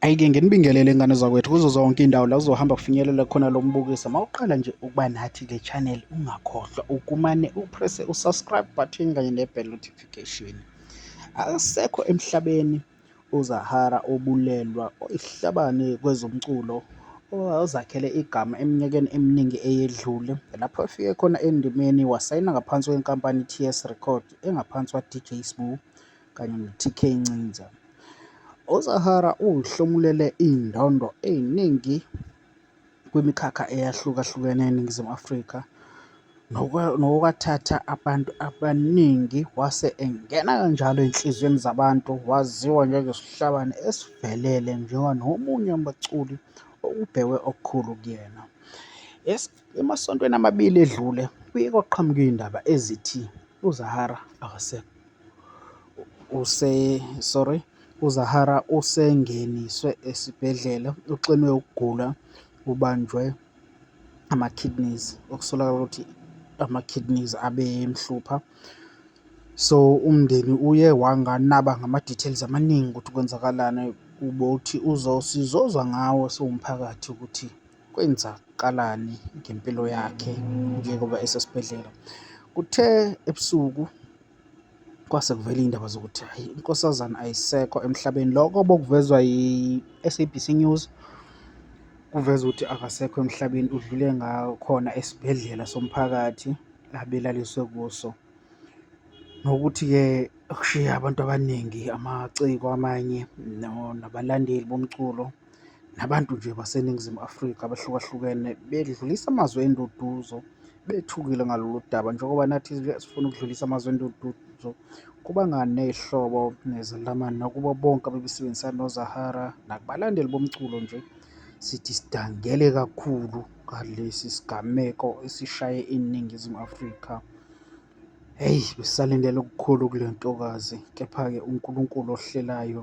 Ayike nginibingelele ngane zakwethu kuzo zonke indawo la uzohamba kufinyelela khona lo mbukiso mawuqala nje ukuba nathi le channel ungakhohlwa ukumane upresse usubscribe button kanye nebell notification akusekho emhlabeni uzahara obulelwa ihlabane kwezomculo ozakhele igama eminyakeni eminingi eyedlule lapho efike khona endimeni wasayina ngaphansi kwenkampani i-TS Record engaphansi kwa-DJ Sbu kanye noTK Ncinza. USahara uhlomulele iy'ndondo ey'ningi kwimikhakha eyahlukahlukene eNingizimu Afrika nokwathatha abantu abaningi wase engena kanjalo ey'nhliziyweni zabantu waziwa njengesihlabani esivelele njengoba nomunye wabaculi okubhekwe okukhulu kuyena. Emasontweni amabili edlule kuye kwaqhamuka iy'ndaba ezithi uZahara akasekho. Use sorry, uZahara usengeniswe esibhedlela uxinwe ukugula ubanjwe ama-kidneys okusolakala ukuthi ama-kidneys abemhlupha. So umndeni uye wanganaba ngama-details amaningi ukuthi kwenzakalani kubo ukuthi uzosizozwa ngawo siwumphakathi ukuthi Kwenzakalani ngempilo yakhe njengoba esesibhedlela? Kuthe ebusuku kwase kuvela iy'ndaba zokuthi hhayi inkosazane ayisekho emhlabeni. Loko bokuvezwa yi-S_A_B_C News, kuveza ukuthi akasekho emhlabeni udlule ngakhona esibhedlela somphakathi abelaliswe kuso. Nokuthi-ke kushiye abantu abaningi amaciko amanye nabalandeli bomculo. nabantu nje baseNingizimu Afrika abahlukahlukene bedlulisa amazwi enduduzo bethukile ngalolu daba njengoba nathi sifuna ukudlulisa amazwi enduduzo kubangane ihlobo nezelamani nakubo bonke abebesebenzisana noZahara nakubalandeli bomculo nje sithi sidangele kakhulu ngalesi sigameko esishaye iNingizimu Afrika Eyi, sisalindele okukhulu kule ntokazi, kepha-ke uNkulunkulu ohlelayo